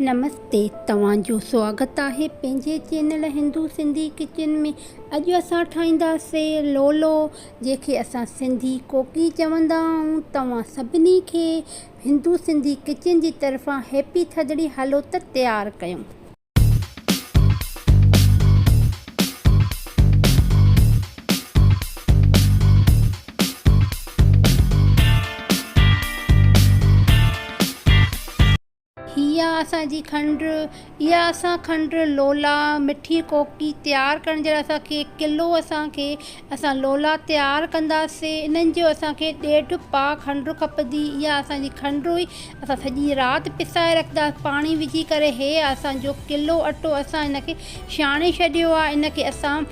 نمستي توهان جو سواگت آهي پنهنجي چينل هندو سنڌي ڪچن ۾ اڄ اسان ٺاهينداسين لولو جنهن کي اسان سنڌي ڪوڪي چوندا آهيون توهان سڀني کي هندو سنڌي ڪچن جي طرفان هيپي ٿڌڙي هلو ته تيار ڪيون. هي آ اسان جي کنڊ، اها اسان کنڊ لولا مٺي ڪوڪي تيار ڪرڻ جي لاء اسان کي ڪلو اسان کي اسان لولا تيار ڪنداسين انهن جو اسان کي ڏيڍ پاء کنڊ کپندي اها اسان جي کنڊ هئي اسان سڄي رات پسائي رکنداسين پاڻي وجهي ڪري هي آ اسان جو ڪلو اٽو اسان هن کي ڇاڻي ڇڏيو آ ان کي اسان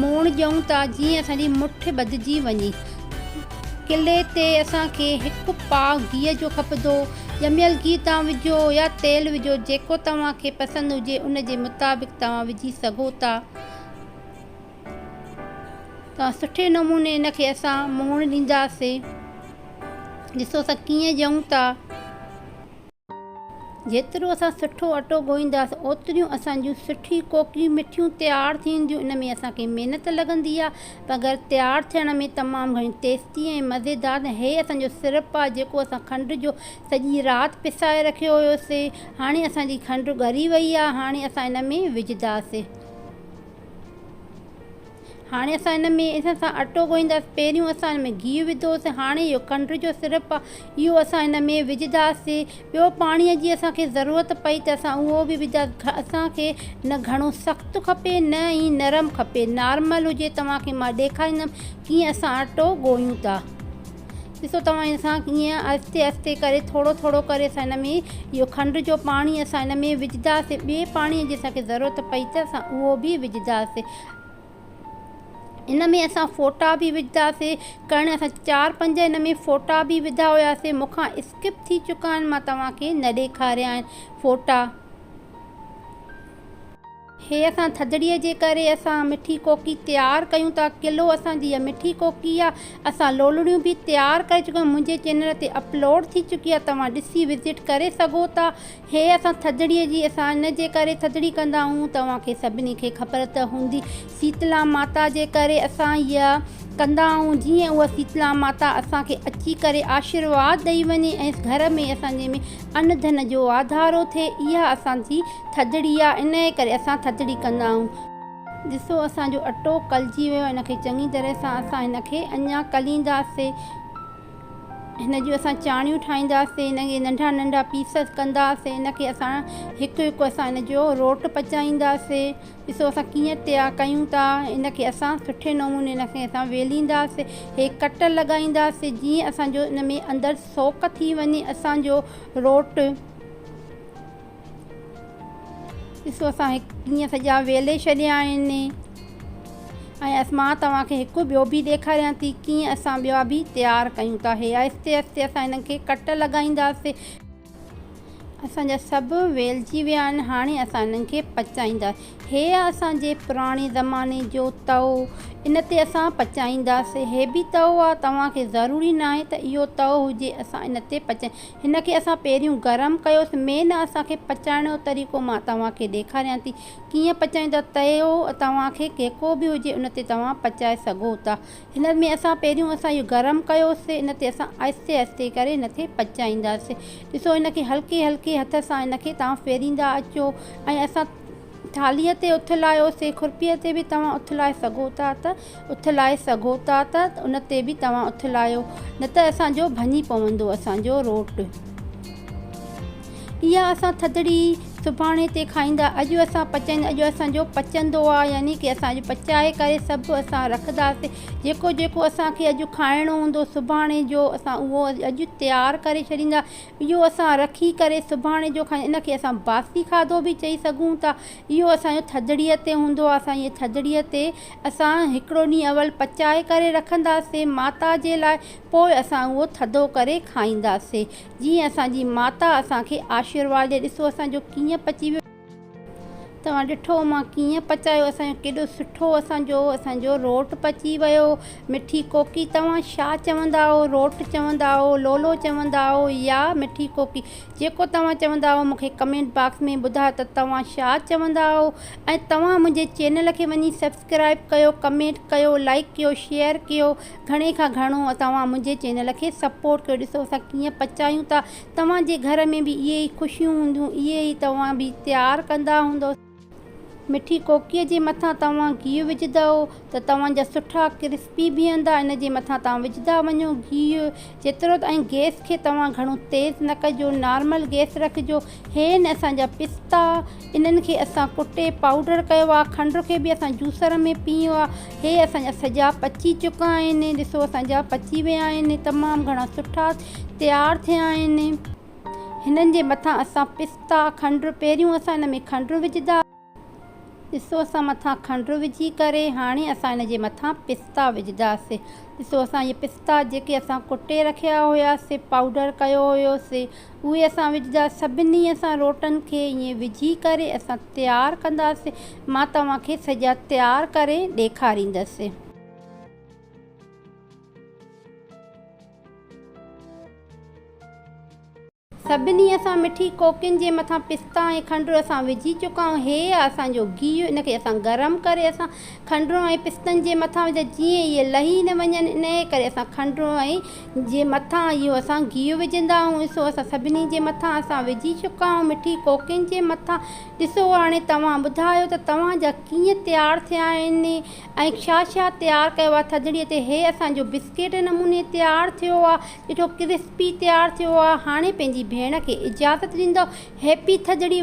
موڻ ڏيون ٿا جيئن اسان جي مٺ ٻڌجي وڃي. قلعي تي اسان کي هڪ پاء گيهه جو کپندو. ڄميل گيهه تان وجهو يا تيل وجهو جيڪو توهان کي پسند هجي ان جي مطابق توهان وجهي سگهو ٿا. توهان سٺي نموني ان کي اسان موڻ ڏينداسين. ڏسو اسان ڪيئن ڏيون ٿا. جيترو اسان سٺو اٽو ڳوهينداسين اوتريون اسان جون سٺي ڪوڪيون مٺيون تيار ٿينديون ان ۾ اسان کي محنت لڳندي آهي مگر تيار ٿيڻ ۾ تمام گهڻي ٽيسٽي ۽ مزيدار ۽ هي اسان جو سرپ آهي جيڪو اسان کنڊ جو سڄي رات پسائي رکيو هيوسين هاڻي اسان جي کنڊ ڳري وئي آهي هاڻي اسان ان ۾ وجهنداسين هاڻي اسان ان ۾ ان سان اٽو ڳوهينداسين پهريون اسان ان ۾ گيهه وڌوسين هاڻي اهو کنڊ جو سرپ آهي اهو اسان ان ۾ وجهنداسين ٻيو پاڻيء جي اسانکي ضرورت پئي ته اسان اهو به وجهنداسين اسانکي نه گهڻو سخت کپي نه ئي نرم کپي نارمل هجي توهانکي مان ڏيکاريندم ڪيئن اسان اٽو ڳوهيون ٿا ڏسو توهان ان سان ڪيئن آهستي آهستي ڪري ٿورو ٿورو ڪري اسان ان ۾ اهو کنڊ جو پاڻي اسان ان ۾ وجهنداسين ٻي پاڻيء جي اسانکي ضرورت پئي ته اسان اهو به وجهنداسين ان ۾ اسان ڦوٽا به وجهداسي ڪرڻ اسان چار پنج ان ۾ ڦوٽا به وڌا هياسي مون کان اسڪپ ٿي چڪا آهن مان توهان کي نه ڏيکاريا آهن ڦوٽا هي اسان ٿڌڙي جي ڪري اسان مٺي ڪوڪي تيار ڪيون ٿا ڪلو اسان جي اها مٺي ڪوڪي آهي اسان لولڙيون به تيار ڪري چڪا آهيون منهنجي چينل تي اپلوڊ ٿي چڪي آهي توهان ڏسي وزٽ ڪري سگهو ٿا هي اسان ٿڌڙيء جي اسان ان جي ڪري ٿڌڙي ڪندا آهيون توهان کي سڀني کي خبر ته هوندي سيتلا ماتا جي ڪري اسان اها ڪندا آهيون جيئن اها سيتلا ماتا اسان کي اچي ڪري آشيرواد ڏئي وڃي ۽ گهر ۾ اسان جي ۾ ان ڌن جو واڌارو ٿئي اها اسان جي ٿڌڙي آهي انهي ڪري اسان ٿڌڙي ڪندا آهيون. ڏسو اسان جو اٽو کلجي ويو آهي ان کي چڱي طرح سان اسان هن کي اڃان کلينداسين. هن جون اسان چاڻيون ٺاهينداسين ان کي ننڍا ننڍا پيس ڪنداسين ان کي اسان هڪ هڪ اسان ان جو روٽ پچائينداسين ڏسو اسان ڪيئن تيار ڪيون ٿا ان کي اسان سٺي نموني ان کي اسان ويلينداسين هي ڪٽ لڳائينداسين جيئن اسان جو ان ۾ اندر سوڪ ٿي وڃي اسان جو روٽ ڏسو اسان هڪ ڏينهن سڄا ويلي ڇڏيا آهن ۽ مان توهان کي هڪ ٻيو به ڏيکاريان ٿي ڪيئن اسان ٻيا به تيار ڪيون ٿا هي آهستي آهستي اسان هنن کي ڪٽ لڳائينداسين اسان جا سڀ ويلجي ويا آهن هاڻي اسان هنن کي پچائينداسين هي آهي اسان جي پراڻي زماني جو تئو ان تي اسان پچائينداسين هي به تئو آهي توهان کي ضروري ناهي ته اهو تئو هجي اسان ان تي پچائينداسين هن کي اسان پهريون گرم ڪيوس مين نه اسان کي پچائڻ جو طريقو مان توهان کي ڏيکاريان ٿي ڪيئن پچائيندا تيو توهان کي ڪيڪو به هجي ان تي توهان پچائي سگهو ٿا هن ۾ اسان پهريون اسان اهو گرم ڪيوسي ان تي اسان آهستي آهستي ڪري هن کي پچائينداسي ڏسو هن کي هلڪي هلڪي هٿ سان هن کي توهان ڦيريندا اچو ۽ اسان ٿالهي تي اٿ لاهيوسي کورپي تي به توهان اٿ لاهي سگهو ٿا ته اٿلائي سگهو ٿا ته ان تي به توهان اٿلايو نه ته اسان جو ڀڃي پوندو اسان جو روٽ. اها اسان ٿڌڙي سڀاڻي تي کائيندا اڄ اسان پچائيندا اڄ اسان جو پچندو آ يعني ڪي اسان اڄ پچائي ڪري سڀ اسان رکداسين جيڪو جيڪو اسان کي اڄ کائڻو هوندو سڀاڻي جو اسان اهو اڄ تيار ڪري ڇڏيندا اهو اسان رکي ڪري سڀاڻي جو کائيندا ان کي اسان باسي کاڌو به چئي سگهون ٿا اهو اسان جو ٿڌڙي تي هوندو آ اسان ٿڌڙي تي اسان هڪڙو ڏينهن اول پچائي ڪري رکنداسين ماتا جي لاء پوء اسان اهو ٿڌو ڪري کائينداسين جيئن اسان جي ماتا اسان کي آشيرواد ڏي ڏسو اسان جو ڪيئن پچي ويو. توهان ڏٺو مان ڪيئن پچايو اسان جو ڪيڏو سٺو اسان جو اسان جو روٽ پچي ويو مٺي ڪوڪي توهان شا چوندا آهو روٽ چوندا آهو لولو چوندا آهو يا مٺي ڪوڪي جيڪو توهان چوندا آهو مونکي ڪمينٽ باڪس ۾ ٻڌايو ته توهان شا چوندا آهو ۽ توهان منهنجي چينل کي وڃي سبسڪرائب ڪيو ڪمينٽ ڪيو لائڪ ڪيو شيئر ڪيو گهڻي کان گهڻو توهان منهنجي چينل کي سپورٽ ڪيو ڏسو اسان ڪيئن پچايون ٿا توهان جي گهر ۾ به اهي ئي خوشيون هونديون اهي ئي توهان به تيار ڪندا هوندو مٺي ڪوڪيء جي مٿان توهان گيهه وجهندؤ ته توهان جا سٺا ڪرسپي بيهندا ان جي مٿان توهان وجهندا وڃو گيهه جيترو ته ۽ گئس کي توهان گهڻو تيز نه ڪجو نارمل گئس رکجو هي آهن اسان جا پستا انهن کي اسان ڪٽي پائوڊر ڪيو آهي کنڊ کي به اسان جوسر ۾ پيهيو آهي هي اسان جا سڄا پچي چڪا آهن ڏسو اسان جا پچي ويا آهن تمام گهڻا سٺا تيار ٿيا آهن هنن جي مٿان اسان پستا کنڊ پهريون اسان ان ۾ کنڊ وجهندا ڏسو اسان مٿان کنڊ وجهي ڪري هاڻي اسان ان جي مٿان پستا وجهنداسي ڏسو اسان اهي پستا جيڪي اسان ڪٽي رکيا هيا سي پائوڊر ڪيو هيو سي اهي اسان وجهندا سڀني اسان روٽن کي ائين وجهي ڪري اسان تيار ڪنداسي مان توهان کي سڄا تيار ڪري ڏيکاريندس. سڀني اسان مٺي ڪوڪين جي مٿان پستا ۽ کنڊر اسان وجهي چڪا آهيون هي آهي اسان جو گيهه ان کي اسان گرم ڪري اسان کنڊرون ۽ پستن جي مٿان وجهيا جيئن اهي لهي نه وڃن انهي ڪري اسان کنڊرون ۽ جي مٿان اهو اسان گيهه وجهندا آهيون سو اسان سڀني جي مٿان اسان وجهي چڪا آهيون مٺي ڪوڪين جي مٿان ڏسو هاڻي توهان ٻڌايو ته توهان جا ڪيئن تيار ٿيا آهن ۽ ڇا ڇا تيار ڪيو آهي ٿڌڙي تي هي اسان جو بسڪيٽ نموني تيار ٿيو آهي ڏٺو ڪرسپي تيار ٿيو آ هاڻي پنهنجي ڀيڻ کي اجازت ڏيندو هيپي ٿڌڙي.